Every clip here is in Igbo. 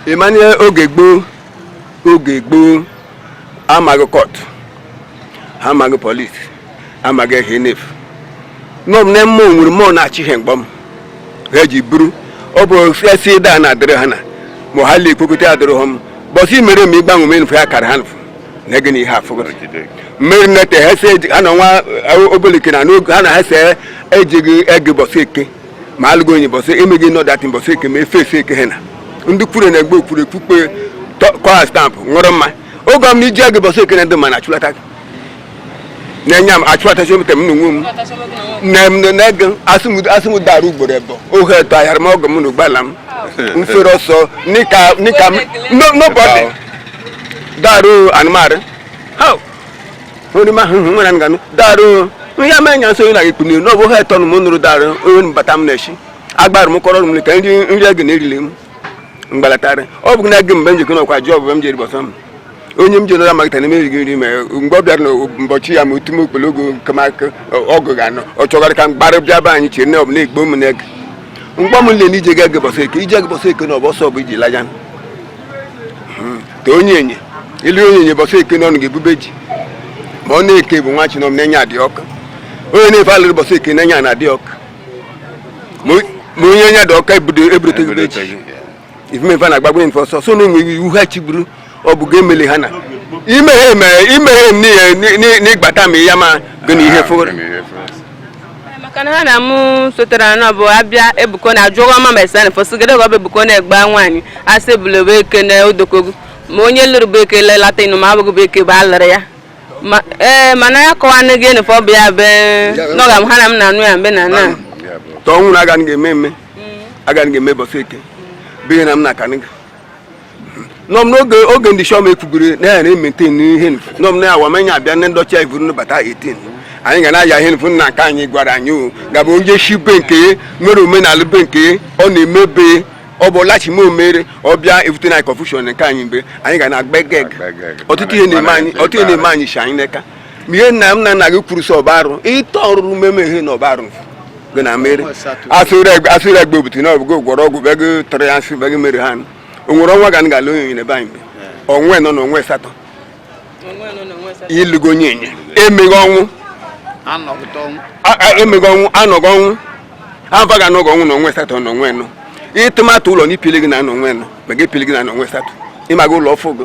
ị manị oge gboo oge gboo amaghị kọt ha amaghị polis amaghị ihe nefu nọ m na mmụọ nwere mmụọ na-achị ihe mgbọ m ha ji buru ọ bụ esi daa na-adịrị ha na mma ha lee ikpokọta adịrị ha m bọsị mere m ịgbanwe m enufe ya kara ha nfu na gị na ihe afụgụrụ mere nete ha si eji ha na nwa obelike na n'oge ha na ha si ejighị ege bọsị eke ma alụgo onye bọsị emeghị nọ datin bọsị eke ma efe efe eke ha na ndị kwuru na egbe okwuru ekpukpe kọa stampụ ṅụrụ mma oge ọm na iji ege bọsị eke na ndị ma na achụlata gị na-enye m achụlatachi ometa m na onwe m na m na ege asị m dara ugboro ebọ ohe etọ ahịara m ọgọ m na ụgbọala m mfere ọsọ nika nika m nobody dara anụmanụ onye ma ahụhụ nwere nganụ darụ ihe ama nya nso na ikpuni na ọbụ ha etọ m nụrụ darụ onye mbata m na-eshi agbara m kọrọ m ka nri ege na-erili m mgbalatara ọ bụ na ege mgbe m jikọ nakwa ji ọbụ m jiri bọsọ m onye m jere amalite na emeghị nri ma mgbe ọ bịara n'ụbọchị ya ma otu m okporo ogo nke maka ọgụ ga anọ ọ chọgara ka m gbara bịa be anyị chere na ọ bụ na-egbo m na ege mgbe m le na ije ga ege bọsị eke ije ege bọsị eke na ọbọsọ bụ iji laja ka onyenye ịlụ onyenye bọsị eke n'ọnụ ga-ebube ji ma ọ na-eke bụ nwa chinom na enya adị ọka onye nfu alụrụ bọsị eke na enya na adị ọka ma onye enya dị ọka ebudote ebube ji ifemefe na agbagbo nfe ọsọ so na enwe iwu ha chigburu ọ bụ ga emeli ha na imeghe n'ihe n'ịgbata m ya ma gị na ihe fụrụ maka na ha na mụ sotere anọ bụ abịa ebuko na ajụọ ọma ma esana fọsụgede ọgọ bụ ebuko na-egba nwaanyị asị ebule bụ eke na odokogu ma onye lụrụ bụ eke lelata ịnụ ma abụghị bụ eke bụ alụrụ ya Ma- ee mana ya kọwa nne gị nụfọ bụ ya be n'ọga m ha na m na-anụ ya mbe na na tọọ nwụrụ agaghị ga-eme eme agaghị ga-eme bọsị eke bụ ihe na m na-akanị gị nọm n'oge ndị shọm ekwugoro na ya na-emete n'ihe nfu nọm na awa manya abịa ndị ọcha ivuru nbata 18 anyị ga na-aya ihe nfu nna nke anyị gwara anyị o gabụ onye shi be nke ya nwere omenala be nke ya ọ na-eme be ya ọ bụ lachime o mere ọbịa evute na confusion nke anyị mgbe anyị ga na-agba geg ọtụtụ ihe na-eme anyị shi anyị n'aka ihe nna m na nna gị kwuru sị ọ bụ arụ ịtọ ọrụrụ mmemme ihe na ọ bụ arụ gị na mere asụrụ egbe obutu na ọbụgo gwọrọ ọgwụ be gị tọrọ ya nsị be gị mere ha o nwere ọnwa ga ga-alụ onyenye n'ebe anyị mgbe ọnwa anọ na ọnwa asatọ ị lụgo onyenye emeghị ọnwụ emeghị ọnwụ anọghị ọnwụ ava ga anọghị ọnwụ na ọnwa asatọ na ọnwa anọ ịtụmatụ ụlọ na ipili gị na ọnwa anọ ma gị epili gị na ọnwa asatọ ịmaga ụlọ ọfụ gị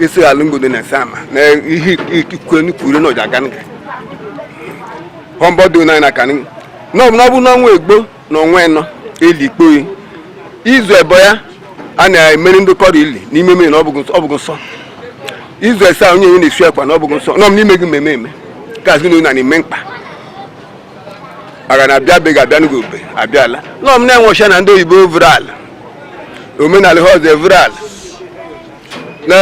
isi alụmgodo na sama na ihe ikike nkwuru na ọja ganga họmbọdụ na na kanụ n'ọbụ n'ọbụ n'ọnwa egbo na ọnwa ịnọ eli ikpoyi izu ebo ya a na-emere ndị kọrọ ili n'ime mmiri na ọ bụghị nsọ izu ese onye onye na-esu ekwa na ọ bụghị nsọ nọ m n'ime gị mmemme eme gazi na na-eme mkpa aga na abịa be ga-abịa n'oge obe abịala nọ m na-enwe ọcha na ndị oyibo vụrụ ala omenala ha ọzọ evuru ala na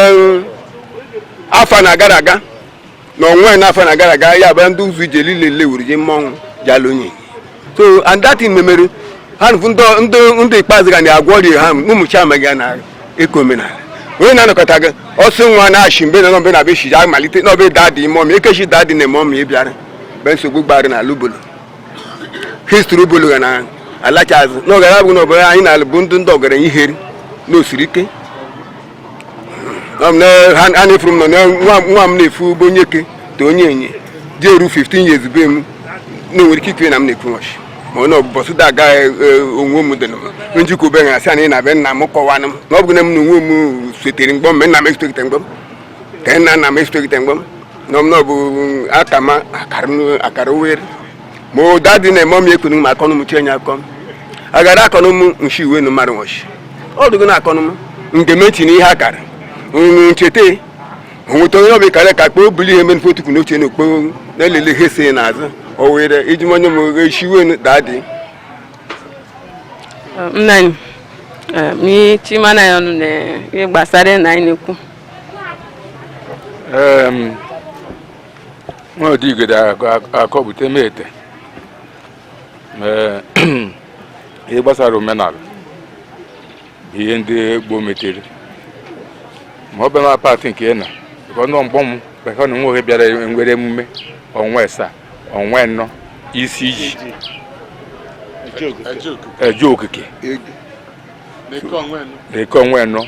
afọ na gara aga na onwe na afọ na gara aga ya bụ ndị ụzọ ije niile lewuru ji mmọnwụ jalonye so and that thing memere ha nụfụ ndị- ndị ndị ikpeazụ ga na-agwọ ọrịa ha ụmụ chiama ga na eke omenala onye na-anọkọta gị ọsị nwa na-achị mbe na mbe na be shiji amalite na ọbe daa dị ime ọmị ekechi daa dị na eme ọmị ịbịara be nsogbu gbara na alụbolo history ọ bụlụ ga na-alacha azụ n'oge ya bụ n'obodo anyị na bụ ndị ndị ọgaranya iheri na osiri ike ha na-efuru m na nwa m na-efu ugbo onye ke ta onye enye ji eru 15 years be m na nwere ike ikiri na m na-ekwu nwachi ma na ọbụbọsụ da aga e, e, onwe m dị njikwa obe na asị na ị na-abịa nna m kọwanụ m na ọ bụghị na m na onwe m sotere mgbe o me nna m esotere mgbọ m ka nna nna m esitogite mgbe m nọ m n'ọbụ aka m akara uwe ma ụda dị na-eme m ekunu ma akọnụ m chenye akọ m agara akọnụ m nshi uwe nu mmadụ nwọchi ọ dụgo na akọnụ m nke m etinye ihe akara unu ncheta onweta onye ọbụla kara nka kpoo buli ihe mere fotu n'oche na okpo na-elele ihe si n'azụ o were iji manye m echi uwe nu daa dị nna anyị chimana ya ọnụ na ihe gbasara na anyị na-ekwu nwa odigede akọpụta m ete ihe gbasara omenala bụ ihe ndị gboo metere ma ọ bụ na part nke na ka ọnụ mgbọ m bekọ na nwoke bịara nwere emume ọnwa asaa ọnwa nnọ isi iji eje okike n'eke ọnwa nnọ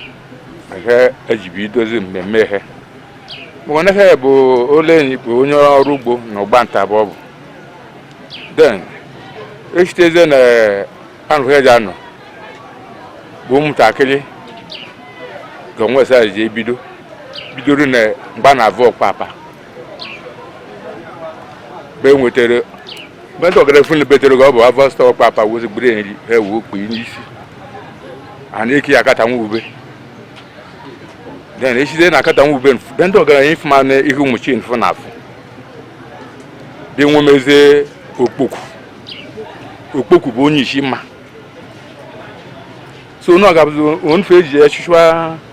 ihe e ji ebidozi mmemme ihe maka na ihe bụ ole enyi bụ onye ọrụ ugbo na ọgba nta bụ ọ bụ then echitezie na anụ ihe ji anọ bụ ụmụntakịrị ga ọnwa esaa ji ebido bidoro na mgba na avụ ọkpapa mgbe nwetara mgbe ndị ọgara funu betere gị ọ bụ avọ stọọ ọkpapa wozi gburu nri ha ewu okpu n'isi a na-eke ya akata nwa ube then echite na akata nwa ube mfu be ndị ọgaranya ifu ma na ihe ụmụ chi mfu na afụ dị wee mezie okpoku okpoku bụ onye isi mma so onye ọgabụzi onfe eji ya chụchwa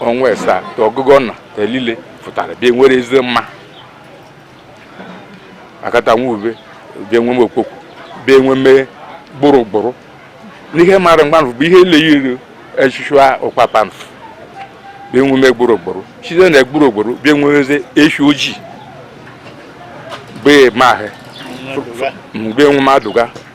ọnwa asaa ta ọgụgụ ọnwa ta elile pụtara bịa nwere eze mma akata nwa ube bịa nweme okpokwu bịa nweme gbụrụgbụrụ n'ihe mara mgbanụ bụ ihe eleghị echichu ụkpapa mf bịa nweme gbụrụgbụrụ site na gbụrụgbụrụ bịa nwe eze echi ojii bee ma ahụ bịa nweme adụga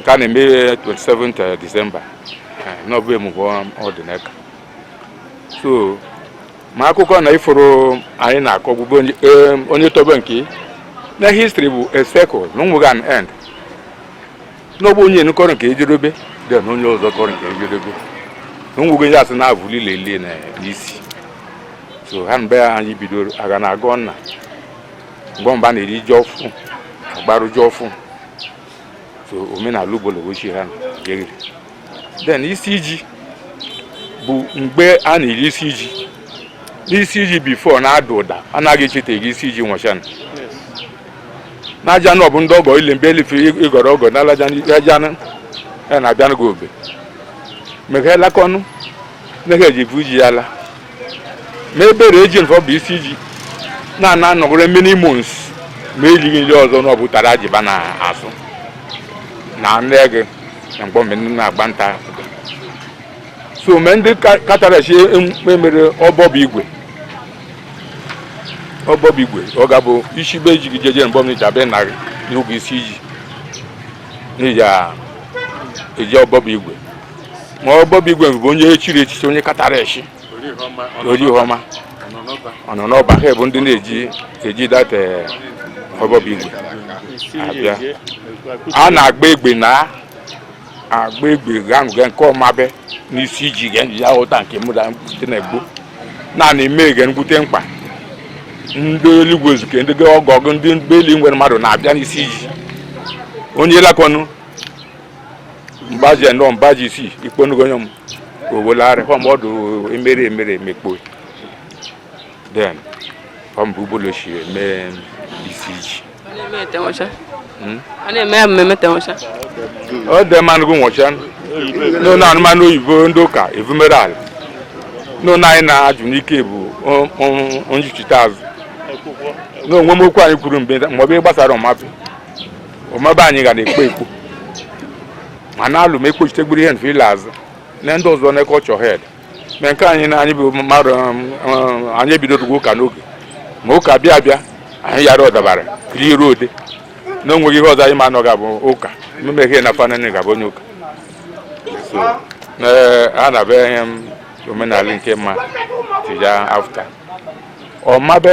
nke a na-eme 27th December n'ọbụ emume ọdịnaka so ma akụkọ na ifuru anyị na-akọ bụ onye tobe nke na history bụ a circle na onweghị an end n'ọbụ onye kọrọ nke ejedobe then onye ọzọ kọrọ nke ejedobe na onweghị onye asị na-abụ lile ile na isi so ha mbe anyị bidoro aga na agọ nna mgbe mba na-eri ji ọfụ agbarụ ji ọfụ so omenala Obolo si ha na-eri then isi iji bụ mgbe a na-eri isi iji n'isi iji before na-ada ụda anaghị echeta eri isi iji nwachana n'aja na ọ bụ ndị ọgọ ile mbe elife ịgọrọ ọgọ n'alaja ajanụ ya na-abịanụ gị obe mekhelakọnụ nnehe eji bụ iji ya la n'ebe rejin fọ bụ isi ji na-ana anọgoro many months ma elighị nri ọzọ na ọ bụ ụtara ji ba na-asụ na anụ ego na mgbe mgbe ndị na-agba nta so mgbe ndị ka- katara echi em- emere ọbọbụ igwe ọbọbụ igwe ọ ga-abụ isi be ji gị jeje mgbe mgbe abịa na n'oge isi ji n'iji a- eji ọbọbụ igwe ma ọbọbụ igwe bụ onye echiri echichi onye katara echi Orihoma ọ nọ n'ọba ha bụ ndị na-eji eji data ọbọbụ igwe abịa a na-agba egbe na agba egbe gaṅụga nke Omabe n'isi iji ga ya ụta nke mụda mkpute na egbo naanị eme ga mkpute mkpa ndị eluigwe ezuke ndị ọgọ gụ ndị mgbeli nwere mmadụ na-abịa n'isi iji onye lakọnụ mgbaji ya nọ mgbaji isi ikponugo onye m owolari fọm ọdụ emere emere emekpo then ọ bụ Obolo si eme isi iji a na-eme ya mmemme tenwụcha ọ dị mmanụ gị nwụcha nụ na anụmanụ oyibo ndị ụka evumere ala nụ na anyị na-ajụ n'ike bụ njichite azụ na onwe m okwu anyị kwuru mgbe ma ọ bụ ihe gbasara Omabe ọmabe anyị ga na-ekpo ekpo ma na-alụ ma ekpochitegburu ihe nfe ile azụ na ndị ọzọ na-eke ọchọ hed na nke anyị na anyị bụ mmadụ um, um, anyị ebidogo ụka n'oge ma ụka bịa bịa anyị yara ọdabara kiri ruo ode na onweghị ihe ọzọ anyị ma anọ ga-abụ ụka mmemme ihe na fanani ga-abụ onye ụka a na-abịa ihe um, omenala nke mma the year after ọmabe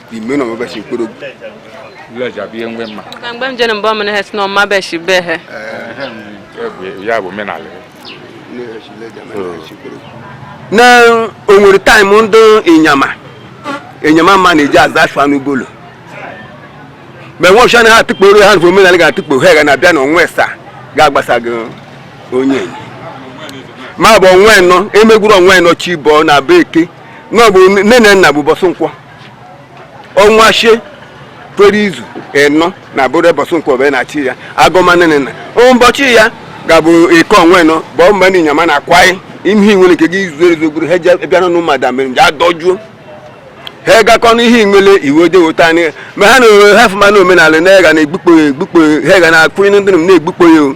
ime na ọmabe shi mkpụrụgwu Lejja bụ ihe mgbe mma na mgbe m jere mgbe ọmụrụ ha si na ọmabe shi be ha ya bụ omenala na o nwere time ndị ịnyama ịnyama mma na-eji aza afọ n'Obolo mgbe nwa ọchịcha na ha atụkporo ha bụ omenala ga-atụkpo ha ga na-abịa na ọnwa esaa ga-agbasa gị onye ịnyama bụ ọnwa enọ emegburu ọnwa enọ chi bọọ na bụ eke na ọ bụ nne na nna bụ bọsụ nkwọ ọnwa shie kwere izu ịnọ na bụrụ bọsụ nkwọ bụ n'echi ya agụmanịnịna ụbọchị ya ga-abụ eke ọnwa enọ bụ mgbe ndị ịnyama na-akwaghị ihe nwere nke gị izu ezogburu ha je bịa n'ụlọ mmadụ mere nje adọjuo ha gakọ n'ihe nwere iwe de weta anyị ma ha na ha fụma na omenala na-ega na-egbukpo ya egbukpo ya ha ga na-akwụnye ndị m na-egbukpo ya o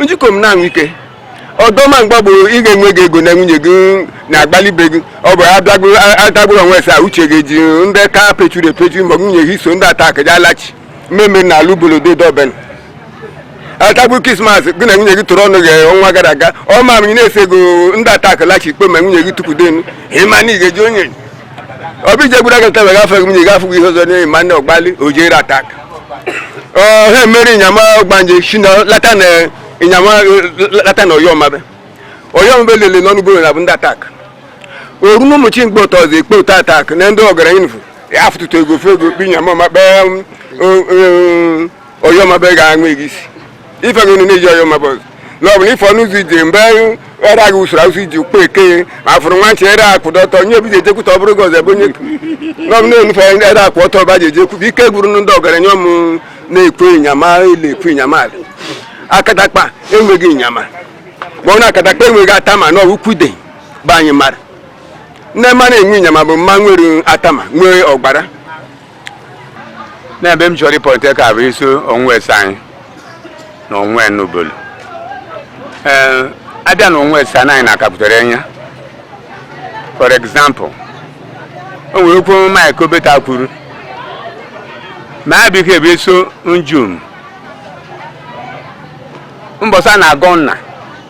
njikọ m na-anwụ ike ọdọma mgbe bụ ị ga-enwe gị ego na nwunye gị na-agbalibe gị ọ bụ adagburu ọnwa esaa uche gị ji ndị ka pechuru epechu ma nwunye gị so ndị attack eji alachi mmemme n'ala Obolo do dọben atagbu Christmas gị na nwunye gị tụrụ ọnụ gị ọnwa gara aga ọ ma m na-ese ego ndị attack lachi ikpe ma nwunye gị tukwudenu ịma na ị ga-eji onye obi jegburu aga nta wega afegị nwunye gafụ ihe ọzọ n'ihi ma nne ọgbali o jere attack ha emere ịnyama ọgbanje si na lata na ịnyama lata na oyo ọmabe oyo ọmabe lele n'ọnụ goro na bụ ndị attack oru na ụmụchi mgbe ụtọ ọzọ ekpe ụtọ attack na ndị ọgaranya nfu afụtụtụ ego fe ego kpe ịnyama ma kpee oyo ọmabe ga-aṅụ ego isi ife gị na-eji oyo ọmabe na ọ bụ na ife ọnụ ụzọ ije mgbe ere agha usoro asụ iji ukpo eke ma fụrụ nwa nche ere akwụdo ọtọ onye obi ji ejekwuta ọ bụrụ gị ọzọ ebe onye na ọ bụ na-enufe ere akwụ ọtọ ọba ji ejekwu bụ ike gwuru ndị ọgaranya ọmụ na-ekwe ịnyama ile ekwe ịnyama ala akatakpa enweghị ịnyama ma ọ bụ na akatakpa enweghị atama na ọwụ kwude bụ anyị mara nne mara enwe ịnyama bụ mma nwere atama nwee ọgbara n'ebe m chọrọ ịpoint ka bụ isi ọnwa esaa anyị na ọnwa enọ Obolo ee abịa na ọnwa esaa anyị na-akapụtara anya for example o nwere okwu Mike Obeta kwuru ma ya biko ebe so njum mbọsa na-agọ nna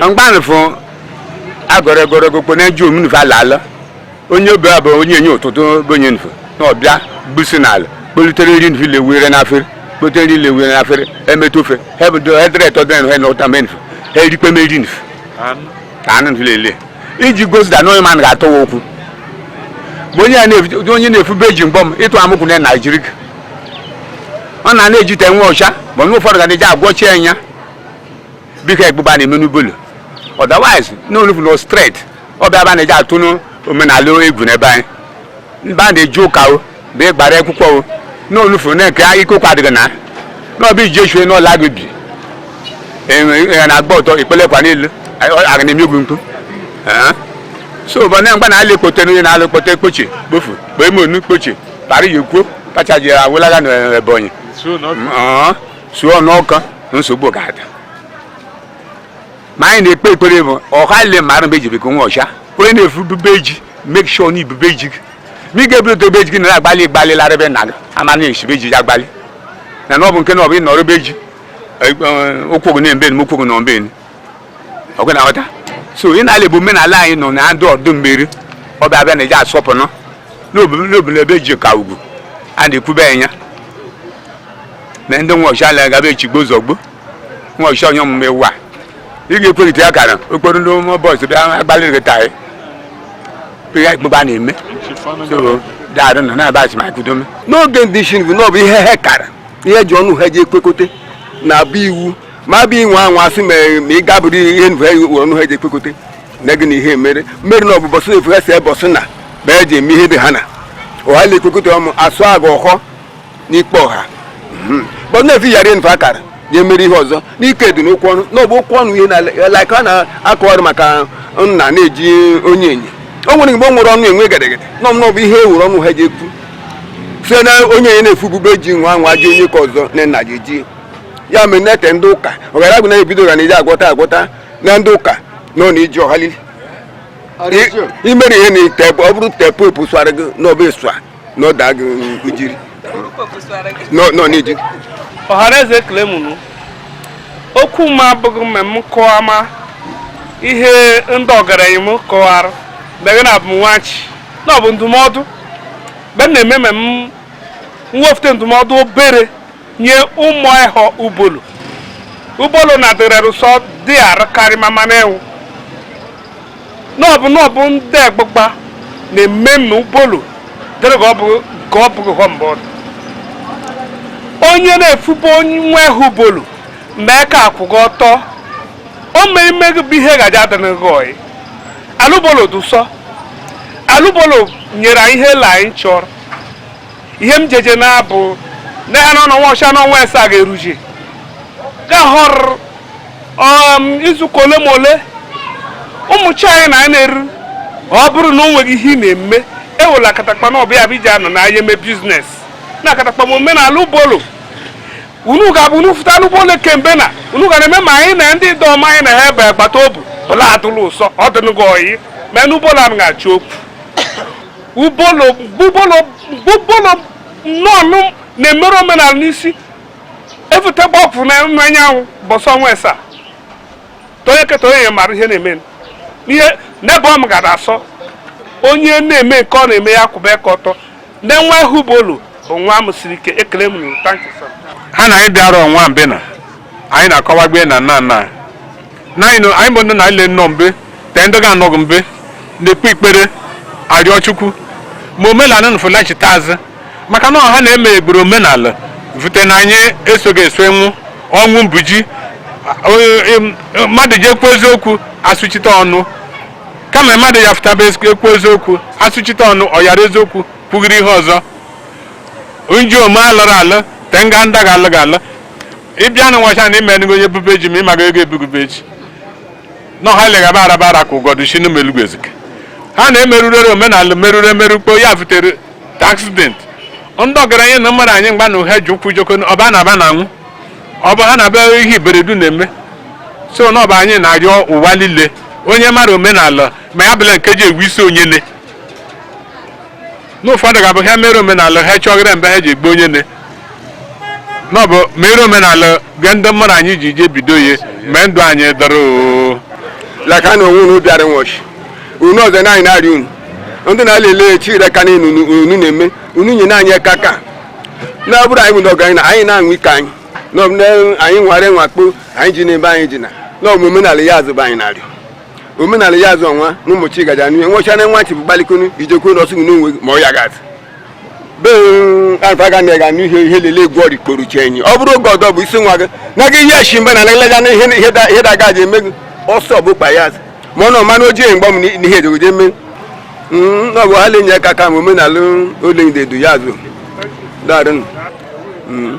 mgbanụ fụ agọrọ egoro gokpo na-eji omunufe ala ala onye obe abụ onye enye ụtụtụ bonye nfe na ọbịa busi n'ala kpolutere nri nfe lewere n'afere kpolutere nri lewere n'afere emetụ ofe hebdo hedre etọ dị nfe na ụta mee nfe ha erikpe meri nfe ka anụ nfe lele iji gosi da n'onye mmadụ ga-atọwa okwu bụ onye a na-efu- onye na-efu beji mgbọm ịtụ amụkwụ na Naijiria ọ na na-ejite nwa ọcha ma nwa ụfọdụ ga na-eji agwọchi ya biko egbugba na-eme n'ubulu otherwise n'olufu no straight ọ bịa ba na-eji atụ n'omenala egwu n'ebe anyị mba na-eji ụka o bụ ịgbara akwụkwọ o n'olufu na nke ike ụkwa adịghị na n'ọbụ iji echue n'ụlọ gị bi ya na-agba ụtọ ikpele kwa niile aga na-eme egwu mkpu so ụbọ na mgba na ala ekpote n'onye na-ala ekpote ekpochi kpofu kpee monu kpochi para ya ekwuo kacha ji awụlaga n'Ebonyi suo n'ọka nsogbu ga-ada ma anyị na-ekpe ekpere bụ ọha le mara mgbe ejibekọ nwa ọcha onye na-efu bube ji make sure na ibube ji gị ma ị ga-eburute ebe ji gị na agbalị gbalị lara be nna gị ama na esibe ji agbalị na na ọ bụ nke na ọ bụ ịnọrọ ebe ji ụkwụ gị na-embe ụkwụ gị na ombe ọgwụ na ọta so ị na-ala bụ omenala anyị nọ na ndụ ọdụ mmeri ọ bịa bịa na eji asọpụrụ n'obodo ebe ji ka ugwu a na-ekwube anya na ndị nwa ọcha ala gaba echigbo zọgbo nwa ọcha onye ọmụma ewu a ị ga-ekwerịta ya kara okporo ndị ụmụ boys bịa agbalị gị taa ya ikpebe a na-eme so daarụ nọ na-aba asị ma kudome n'oge ndị isi bụ na ọ bụ ihe ha kara ihe ji ọnụ ha ji ekwekote na abụ iwu ma bụ inwe anwa asị ma ị ga-abụrụ ihe nva were ọnụ ha ji ekwekote na gị na ihe mere mmeri na ọ bụ bọsị efu ha si ebe ọsụ na ma eji eme ihe dị ha na ọha na-ekwekote ọmụ asụ aga ọhọ n'ikpe ọha hmm. bọsụ na-efi yara nva akara ya emere ihe ọzọ n'ike dị n'okwu ọnụ na ọ bụ okwu ọnụ ihe na like a na-akọ ọrụ maka nna na-eji onye enyi o nwere mgbe o nwere ọnụ enwe gedegede nọ m n'ọbụ ihe ewuru ọnụ ha ji ekwu site na onye enye na-efu bube ji nwa nwa ji onye ka ọzọ na nna ji eji ya mere na-ete ndị ụka ọgara agụ na-ebido ga na iji agwọta agwọta na ndị ụka nọ na iji ọhalili imere ihe na tepu ọ bụrụ tepu epu sụara gị n'ọba ịsụ a na ọda gị ijiri nọ n'iji ọhanaeze ekele m ụnụ okwu m abụghị mme m kọwa ma ihe ndị ọgaranya m kọwara begị na abụ m nwachi na ọ bụ ndụmọdụ mgbe m na-eme mme m mwefute ndụmọdụ obere nye ụmụ ịhọ ubolo ubolo na dịrị ụsọ dị arụkarị mama na-enwu n'ọbụ n'ọbụ ndị agbụgba na mmemme ubolo dịrị ka ọ bụ ka ọ bụghị hụ mgbe ọ dị onye na-efubo onye nwa ịhụ ubolo mee ka akwụgo ọtọ o mee ime gị bụ ihe gaji adịrị gị ọyị ala ubolo dụ ụsọ ala ubolo nyere anyị ihe la anyị chọrọ ihe m jeje na-abụ na ya n'ọnụ nwa ọcha n'ọnwa asaa ga-eruji ga họrọ um, izuụka ole ma ole ụmụ chi anyị na-eru ọ bụrụ na o nweghị ihe ị na-eme ewela akatakpa na ọbịa bụ iji anọ na ahịa eme biznes na akatakpa ma omenala ubolo unu ga-abụ unu fụta n'ubolo kemgbe na unu ga na-eme ma anyị na ndị dị ọma anyị na ha ebe agbata obi bụla adụla ụsọ ọ dịnụgo oyi mee n'ubolo m ga-achị okwu ubolo bubolo bubolo nnọọnụ na-emere omenala n'isi efute gbapụ na anyanwụ bọsọ ọnwa esa tonye keta onye mara ihe na-eme ihe n'ebe ọ m gara asọ onye na-eme nke ọ na-eme ya kwụba aka ọtọ na nwa ihu ubolo bụ nwa m siri ike ekele m nụ thank you sir. ha na anyị bịara ọnwa mbena anyị na-akọwagbe na nna nna nna anyị bụ ndị niile nnọọ mbe te ndị ga-anọghị mbe na-ekpe ikpere arịọ chukwu ma omenala na fụlachite azụ maka na ọha na-eme egburu omenala vute na anyị esoghị eso anwụ ọnwụ mbuji mmadụ ji ekwu eziokwu asụchite ọnụ kama mmadụ ya fụtaba ekwu eziokwu asụchite ọnụ ọ yara eziokwu kwugiri ihe ọzọ nji ome alụrụ alụ te nga ndị ga-alụ ga-alụ ịbịa na nwacha na imenugo onye bube ji ma ịmaga ego ebugube ji na ọha leghaba araba ara ka ụfọdụ si n'ime elugwu ezike ha na-emerụrere omenala merụrụ emerụkpo ya vutere accident ndị ọgaranya na mmadụ anyị mgba na ụha ji ụkwụ joko ọba na aba na anwụ ọ bụ ha na-aba ihe iberede na-eme so na ọba anyị na-arịọ ụwa niile onye mara omenala ma ya bụla nke ji egwu isi onyele n'ụfọdụ ga-abụ ha mere omenala ha chọgịrị mgbe ha ji egbu onye ne na ọ bụ mere omenala bịa ndị mmadụ anyị ji je bido ihe mgbe ndụ anyị dọrọ oo laka na onwe unu bịara nwọchi unu ọzọ na anyị na-arị unu ndị na-ala ele chire ka niile unu unu na-eme unu nye na anyị aka ka na bụrụ anyị bụ ọgaranya anyị na-aṅụ ike anyị na ọ bụ na anyị nwara nwakpo anyị ji n'ebe anyị ji na na ọ bụ omenala ya azụba anyị na-arịọ omenala ya azụ ọnwa na ụmụ chi gaja n'ihe nwecha na nwa chi bụ gbalikonu ijekwu na ọsụgụ n'onwe ma ọ ya gat be alfa ga na ga n'ihe ihe lele egwu ọrị kporu chi enyi ọ bụrụ oge ọdọ bụ isi nwa gị na gị ihe shi mba na nagalaja na ihe da gaji eme gị ọsọ bụ kpa ya ma ọ na ọma na ojii mgbe m n'ihe ejegoje eme mm, ọ bụ ha lenye aka ka ma omenala ole ndedu ya azụ daarụ mm.